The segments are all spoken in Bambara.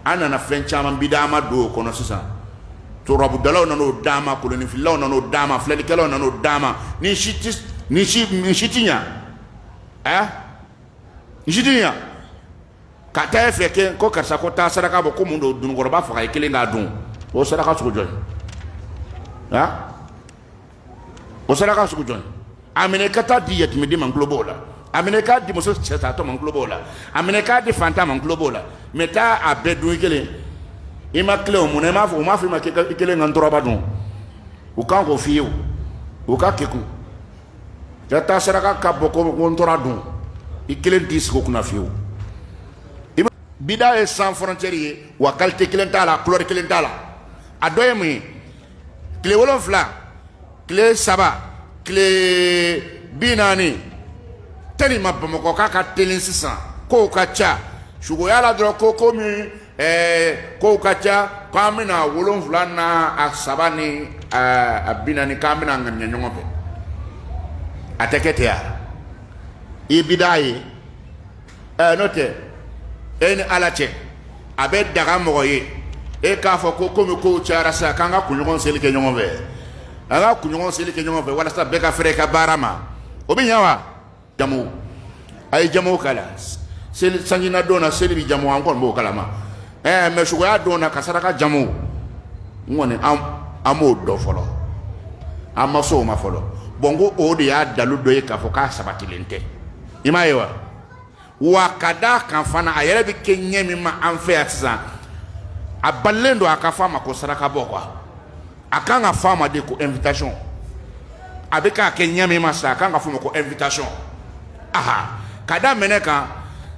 an nana fɛn caman bidama don o kɔnɔ sisan torabudalaw nan'o d'an ma koloninfilaw nan'o d'an ma filɛlikɛlaw nan'o d'an ma ni si ti ni si ni si ti ɲa ɛ ni si ti ɲa ka taa e fɛ kɛ ko karisa ko taa saraka bɔ ko mun don dununkɔrɔba faga i kelen k'a dun o saraka sugu jɔn ye a o saraka sugu jɔn a minɛ ka taa di yatimɛden ma n tulo b'o la a minɛ k'a di muso cɛntantɔ ma n tulo b'o la a minɛ k'a di fantan ma n tulo b'o la mɛ taa a bɛɛ dun i kelen i ma tilen o mun na i m'a fɔ u m'a fɔ i ma k'i kelen ka nturaba dun u kan k'o f'i ye o u ka kekun ka taa saraka ka bɔ ko ko ntura dun i kelen t'i sigi o kunna fiyewu bida ye sans frontière ye wa qualité kelen t'a la couleur kelen t'a la a dɔ ye mun ye tile wolonfila tile saba tile bi naani teliman bamakɔkaw ka teli sisan kow ka ca sukoya la dɔrɔn ko komi ɛɛ kow ka ca k'an bɛna wolonfila n'a saba ni a bi naani k'an bɛna ŋaniya ɲɔgɔn fɛ a tɛ kɛ ten wa i bida ye ɛɛ n'o tɛ e ni ala cɛ a bɛ daga mɔgɔ ye e k'a fɔ ko komi kow cayara sisan k'an ka kunɲɔgɔn seli kɛ ɲɔgɔn fɛ an ka kunɲɔgɔn seli kɛ ɲɔgɔn fɛ walasa bɛɛ ka fɛrɛ i ka baara ma o bɛ ɲɛ wa jamu a ye jamu kalan seli sanjina don na seli bɛ jamu an kɔni b'o kalama ɛɛ mɛ sukoya don na ka saraka jamu n kɔni an an m'o dɔn fɔlɔ an ma s'o ma fɔlɔ bɔn ko o de y'a dalu dɔ ye k'a fɔ k'a sabatilen tɛ i m'a ye wa wa ka d'a kan fana a yɛrɛ bɛ kɛ ɲɛ min ma an fɛ yan sisan a balilen don a ka fɔ a ma ko saraka bɔ quoi a kan ka fɔ a ma de ko invitation a bɛ ka kɛ ɲɛ min ma sisan a kan ka fɔ a ma ko invitation aha ka da mun de kan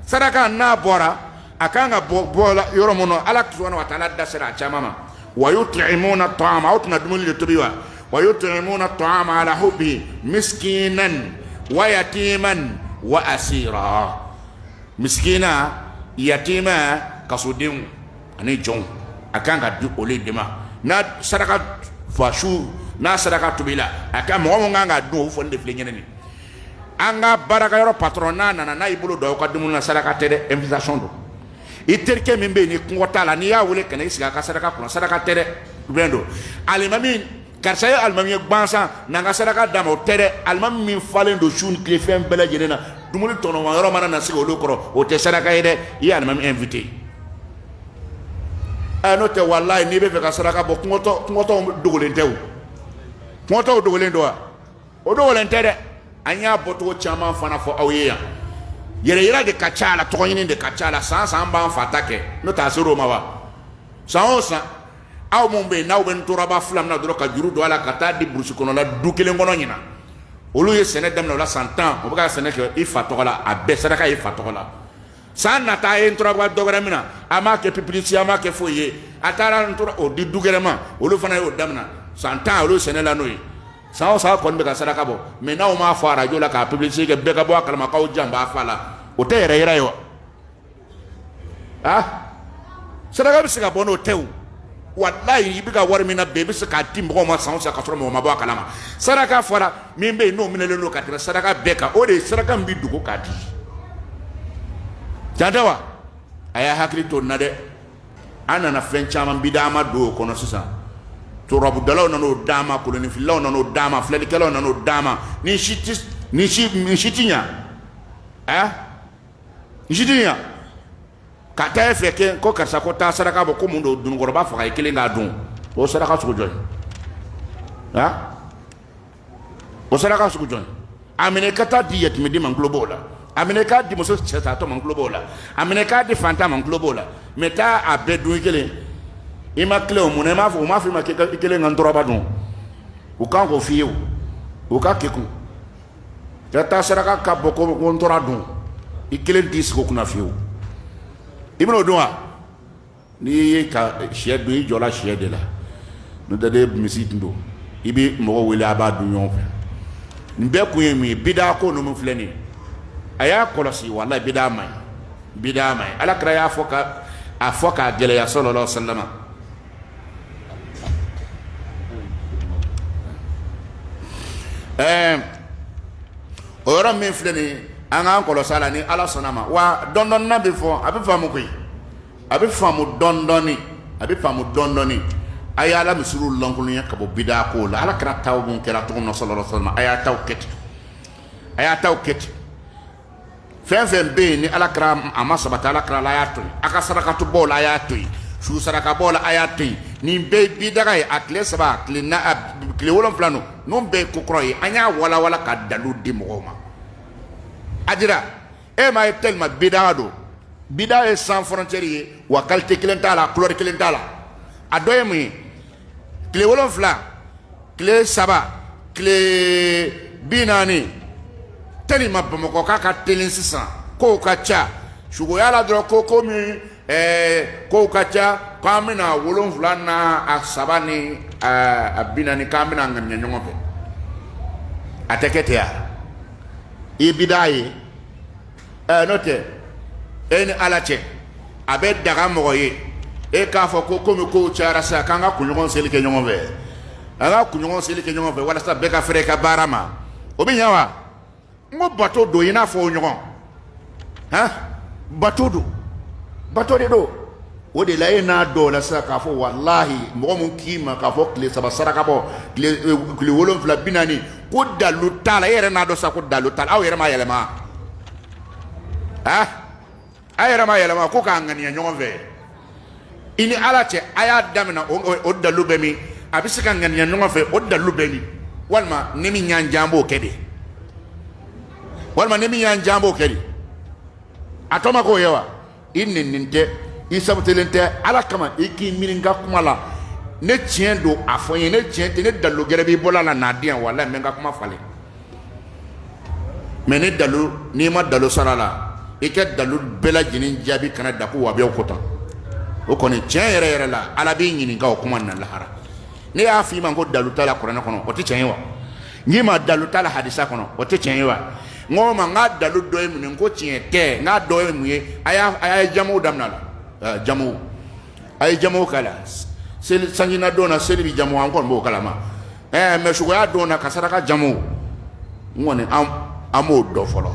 saraka n'a bɔra a kan ka bɔ yɔrɔ min na ala subhanahu wa ta'ala da sera a caman ma wa yut'imuna ta'ama aw tɛna dumuni de tobi wa wa yut'imuna ta'ama ala hubbihi miskinan wa yatiman wa asira miskina yatima kasodenw ani jɔnw a kan ka di olu de ma n'a saraka fa su n'a saraka tobila a ka mɔgɔ min kan k'a dun o fɔlen de filɛ ɲɛnɛ nin an ka baarakɛyɔrɔ patɔrɔn n'a nana n'a y'i bolo don aw ka dumuni na saraka tɛ dɛ invitation don i terikɛ min bɛ yen ni kɔngɔ t'a la n'i y'a wele ka na i sigi a ka saraka kunna saraka tɛ dɛ bɛn don alimami karisa ye alimami ye gbansan na n ka saraka d'a ma o tɛ dɛ alimami min falen don su ni tile fɛn bɛɛ lajɛlen na dumuni tɔnɔma yɔrɔ mana na sigi olu kɔrɔ o tɛ saraka ye dɛ i ye alimami invité ɛ n'o tɛ walayi n'i bɛ fɛ ka saraka bɔ kɔngɔtɔ kɔngɔtɔw dogolen tɛ o kɔngɔtɔw dogolen don wa. o dogolen tɛ dɛ an y'a bɔcogo caman fana fɔ aw ye yan yɛrɛ yira de ka ca a la tɔgɔɲini de ka ca a la san san b'an fa ta kɛ n'o t'a ser'o ma wa san o san aw minnu bɛ yen n'aw bɛ ntoraba fila mina dɔrɔn ka juru don a la ka taa di burusi kɔnɔla du kelen kɔnɔ ɲinan olu ye sɛnɛ daminɛ o la san tan o bɛ ka sɛnɛ kɛ i fa tɔgɔ la a bɛɛ saraka i fa tɔgɔ la san nata a ye ntoraba dɔ wɛrɛ mina a m'a kɛ pipilisi a m'a kɛ foyi ye a taara ntora o di du gɛrɛ ma olu fana y'o daminɛ san tan olu sɛnɛ la n'o ye san san kɔni bɛ ka saraka bɔ mɛ n'aw m'a fɔ arajo la k'a publicité kɛ bɛɛ ka bɔ a kalama k'aw jan b'a fa la o tɛ yɛrɛ yira ye wa ah saraka bɛ se ka bɔ n'o tɛ o walayi i bɛ ka wari min nabɛn i bɛ se k'a di mɔgɔw ma san o san ka sɔrɔ mɔgɔ ma bɔ a kalama saraka fɔra min bɛ yen n'o minɛlen don ka tɛmɛ saraka bɛɛ kan o de ye saraka min bɛ dogo k'a di can tɛ wa a y'a hakili to nin na dɛ an nana fɛn caman bidama don o kɔnɔ sisan turabudalaw nana'o d'a ma kolonninfililaw nana'o d'a ma filɛlikɛlaw nana'o d'a ma nin si tɛ ɲɛ nin si tɛ ɲɛ ka taa e fɛ kɛ ko karisa ko taa saraka bɔ ko mun don dununkɔrɔba faga i kelen k'a dun o saraka sugu jɔn ye a o saraka sugu jɔn a minɛ ka t'a di yatimɛden ma n tulo b'o la a minɛ k'a di muso cɛtatɔ ma n tulo b'o la a minɛ k'a di faantan ma n tulo b'o la mɛ taa a bɛɛ dun i kelen i ma tilen o mun na i m'a fɔ u m'a fɔ i ma k'i kelen ka ntoraba dun u kan k'o f'i ye o u ka kekun ka taa saraka ka bɔ ko ko ntora dun i kelen t'i sigi o kunna fiyewu i bɛn'o dun wa n'i ye ka shɛ don i jɔla shɛ de la n'o tɛ de misi tun don i bɛ mɔgɔ wele a b'a dun ɲɔgɔn fɛ nin bɛɛ kun ye mun ye bidako ninnu filɛ nin a y'a kɔlɔsi walayi bida man ɲi ala kira y'a fɔ k'a gɛlɛya sallallahu alayhi wa sallam ɛɛ o yɔrɔ min filɛ nin an k'an kɔlɔsi la ni ala sɔnna ma wa dɔndɔɔni a bɛ fɔ a bɛ faamu koyi a bɛ faamu dɔndɔɔni a bɛ faamu dɔndɔɔni a y' ala misiriw lankolonya ka bɔ bida ko la ala kira taw minnu kɛra cogo min na sallallahu alayhi wa sallam a y'a ta kɛ ten a y'a ta kɛ ten fɛn fɛn bɛ yen ni ala kira a ma sabati ala kira la a y'a to a ka saraka bɔ la a y'a to su saraka bɔ la a y'a to nin bɛɛ bida ye a tile saba tile tile wolonfila don nin bɛɛ ye ko kɔrɔ ye an y'a walawala ka dalu di mɔgɔw ma a dira e m'a ye tellement bida don bida ye sans frontière ye wa qualité kelen t'a la couleur kelen t'a la a dɔ ye mun ye tile wolonfila tile saba tile bi naani tellement bamakɔkaw ka teli sisan kow ka ca sukoya la dɔrɔn ko ko min ɛɛ kow ka ca k'an bɛna wolonfila na a saba ni a bi naani k'an bɛna ŋaniya ɲɔgɔn fɛ a tɛ kɛ ten a ye bida ye ɛɛ n'o tɛ e ni ala cɛ a bɛ daga mɔgɔ ye e k'a fɔ ko komi kow cayara sisan k'an ka kunɲɔgɔn seli kɛ ɲɔgɔn fɛ an ka kunɲɔgɔn seli kɛ ɲɔgɔn fɛ walasa bɛɛ ka fɛrɛ i ka baara ma o bɛ ɲɛ wa n ko bato don i n'a fɔ o ɲɔgɔn han bato don bato de don o de la e n'a dɔn o la sa k'a fɔ walahi mɔgɔ min k'i ma k'a fɔ tile saba saraka bɔ tile e, wolonfila bi naani ko dalu t'a la e yɛrɛ n'a dɔn sa ko dalu t'a la aw yɛrɛ ma yɛlɛma ah a yɛrɛ ma yɛlɛma ko k'a ŋaniya ɲɔgɔn fɛ i ni ala cɛ a y'a daminɛ o dalu bɛ min a bɛ se ka ŋaniya ɲɔgɔn fɛ o dalu bɛ min walima ni min y'an diya an b'o kɛ de walima ni min y'an diya an b'o kɛ de a tɔ ma k'o ye wa i nɛninen tɛ i sabotelen tɛ ala kama i k'i miiri n ka kuma la ni tiɲɛ don a fɔ n ye ni tiɲɛ tɛ ni dalu gɛrɛ b'i bolo a la n'a di yan wala n bɛ n ka kuma falen mɛ ni dalu n'i ma dalu sɔrɔ a la i ka dalu bɛɛ lajɛlen jaabi kana da ko wahabiya ko tan o kɔni tiɲɛ yɛrɛ yɛrɛ la ala b'i ɲininka o kuma na lahara ne y'a fɔ i ma ko dalu t'a la kuranɛ kɔnɔ o tɛ tiɲɛ ye wa n k'i ma dalu t'a la hadisa kɔnɔ o tɛ tiɲɛ ye wa n ko ma n ka dalu dɔ ye mun ye n ko tiɲɛ tɛ n k'a dɔ ye mun ye a y'a a y'a jamu daminɛ a la jamu a ye jamu k'a la seli sanjinadon na seli bɛ jamu an kɔni b'o kalama ɛɛ mɛ sukoya don na ka saraka jamu n kɔni an m'o dɔn fɔlɔ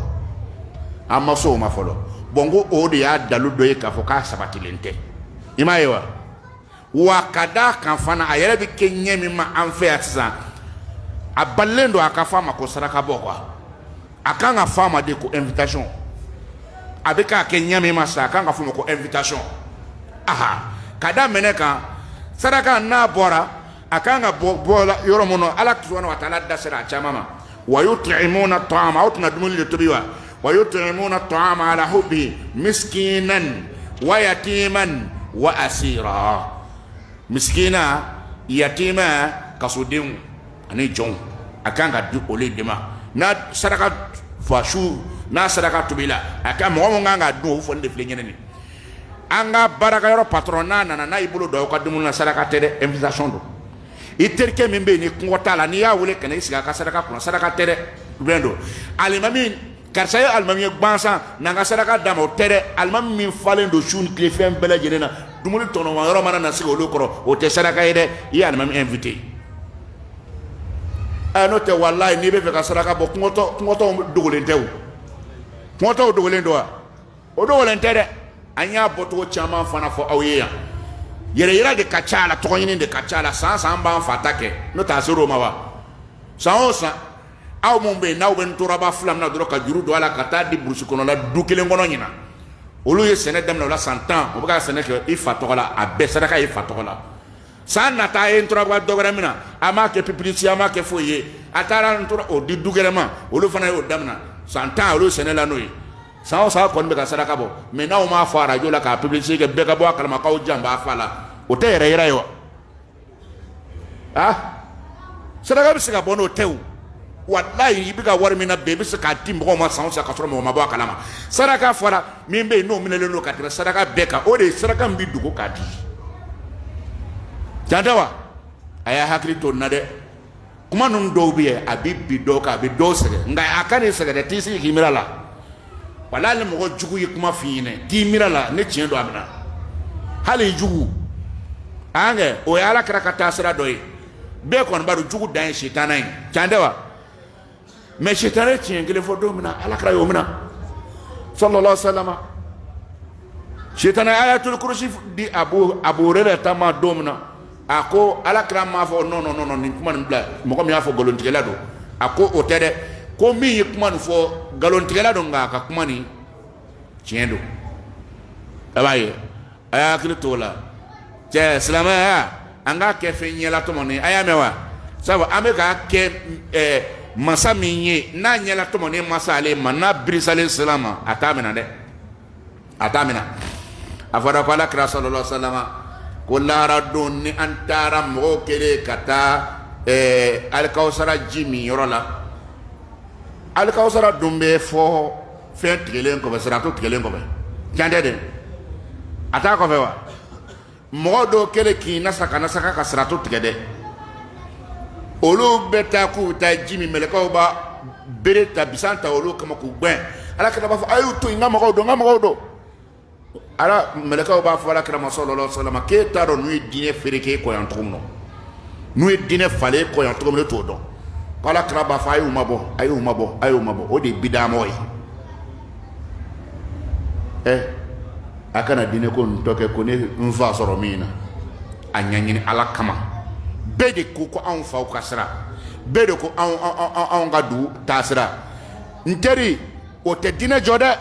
an ma se o ma fɔlɔ bɔn n ko o de y'a dalu dɔ ye k'a fɔ k'a sabatilen tɛ i m'a ye wa wa ka d'a kan fana a yɛrɛ bɛ kɛ ɲɛ min ma an fɛ yan sisan a balilen don a ka fɔ a ma ko saraka bɔ quoi a kan ka fɔ a ma de ko invitation a bɛ k'a kɛ ɲɛ min ma sisan a kan ka fɔ o ma ko invitation aha ka da mun de kan saraka n'a bɔra a ka kan ka bila yɔrɔ minnu na ala subhanahu wa taala da sera a caman ma wa yut'imuna ta'ama aw tɛna dumuni de tobi wa wa yut'imuna ta'ama ala hubbihi miskinan wa yatiman wa asira miskina yatima kasodenw ani jɔnw a kan ka di olu de ma n'a saraka fa su n'a saraka tobila a ka mɔgɔ min kan ka dun o fɔlen de filɛ ɲɛnɛ nin an ka baarakɛyɔrɔ patron n'a nana n'a y'i bolo don aw ka dumuni na saraka tɛ dɛ invitation don i terikɛ min bɛ yen ni kɔngɔ t'a la n'i y'a wele ka na i sigi a ka saraka kunna saraka tɛ dɛ lien don alimami karisa ye alimami ye gansan na n ka saraka d'a ma o tɛ dɛ alimami min falen don su ni tile fɛn bɛɛ lajɛlen na dumuni tɔnɔma yɔrɔ mana na sigi olu kɔrɔ o tɛ saraka ye dɛ i ye alimami invité ɛ n'o tɛ walayi n'i bɛ fɛ ka saraka bɔ kɔngɔtɔ kɔngɔtɔw dogolen tɛ o kɔngɔtɔw dogolen don wa. o dogolen tɛ dɛ an y'a bɔcogo caman fana fɔ aw ye yan yɛrɛ yira de ka ca a la tɔgɔɲini de ka ca a la san san b'an fa ta kɛ n'o t'a ser'o ma wa san o san aw minnu bɛ yen n'aw bɛ nturaba fila minɛ dɔrɔn ka juru don a la ka taa di burusi kɔnɔla du kelen kɔnɔ ɲinan olu ye sɛnɛ daminɛ o la san tan o bɛ ka sɛnɛ kɛ i fa tɔgɔ la a bɛɛ saraka i fa tɔgɔ la san nata a ye nturaba dɔ wɛrɛ minɛ a m'a kɛ pibilisite a m'a kɛ foyi ye a taara ntura o di du gɛrɛ ma olu fana y'o daminɛ san tan olu sɛnɛ la n'o ye san san kɔni bɛ ka saraka bɔ mɛ n'aw m'a fɔ arajo la k'a pibilisite kɛ bɛɛ ka bɔ a kalama k'aw jan b'a fa la o tɛ yɛrɛ yira ye wa a saraka bɛ se ka bɔ n'o tɛ o walayi i bɛ ka wari min nabɛn i bɛ se k'a di mɔgɔw ma san san ka sɔrɔ mɔgɔ ma bɔ a kalama saraka fɔra min bɛ yen n'o minɛlen don ka tɛmɛ saraka bɛɛ kan o de ye saraka min bɛ dogo k'a di can tɛ wa a y'a hakili to n na dɛ kuma ninnu dɔw bɛ yen a bɛ bin dɔw kan a bɛ dɔw sɛgɛn nka a kan'i sɛgɛn dɛ t'i sigi k'i miiri a la wala ni mɔgɔ jugu ye kuma f'i ɲinɛ t'i miiri a la ni tiɲɛ don a minɛ hali i jugu an kɛ o ye ala kira ka taasira dɔ ye bɛɛ kɔni b'a dɔn jugu dan ye sitana ye can tɛ wa mɛ sitanɛ ye tiɲɛ kelen fɔ don min na ala kira y'o minɛ salalahu alayihi wa salama sitanɛ ayatuli kurusi di abu hurayirata ma don min na a ko ala kira m'a fɔ nɔn nɔn nɔn nin kuma nin bila mɔgɔ min y'a fɔ nkalontigɛla don a ko o tɛ dɛ ko min ye kuma nin fɔ nkalontigɛla don nka a ka kuma nin tiɲɛ don a b'a ye a y'a hakili to o la cɛ silamɛya an k'a kɛ fɛn ɲɛlatɔmɔnen a y'a mɛn wa sabu an bɛ k'a kɛ ɛɛ masa min ye n'a ɲɛlatɔmɔnen ma se ale ma n'a birisalen ser'a ma a t'a minɛ dɛ a t'a minɛ a fɔra ko ala kira salalahu alayihi wa salama ko lahara don ni an taara mɔgɔw kɛlen ka taa ɛɛ alikawusara ji min yɔrɔ la alikawusara dun bɛ fɔ fɛn tigɛlen kɔfɛ sirato tigɛlen kɔfɛ can tɛ dɛ a t'a kɔfɛ wa mɔgɔ dɔw kɛlen k'i nasa ka nasa ka sirato tigɛ dɛ olu bɛ taa k'u bɛ taa ji min mɛlɛkaw b'a bere ta bisan ta olu kama k'u gɛn ala kira b'a fɔ a y'u to yen n ka mɔgɔw don n ka mɔgɔw don ala mɛlɛkaw b'a fɔ ala kira ma salalahu alayihi wa salama k'e t'a dɔn ninnu ye diinɛ fereke i kɔ yan cogo min na ninnu ye diinɛ falen i kɔ yan cogo min e t'o dɔn ko ala kira b'a fɔ a y'u mabɔ a y'u mabɔ a y'u mabɔ o de ye bidamɔgɔ ye ɛ a kana diinɛ ko nin tɔ kɛ ko ne n fa sɔrɔ min na a ɲɛɲini ala kama bɛɛ de ko ko anw faw ka sira bɛɛ de ko anw anw ka dugu taasira n teri o tɛ diinɛ jɔ dɛ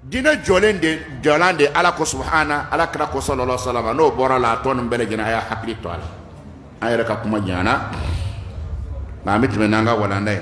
diinɛ jɔlen de jɔlan de ala ko subahana ala kira ko salalahu wa salama n'o bɔra a la a tɔ nin bɛɛ lajɛlen a y'a hakili to a la an yɛrɛ ka kuma janyana nka an bɛ tɛmɛ n'an ka walanda ye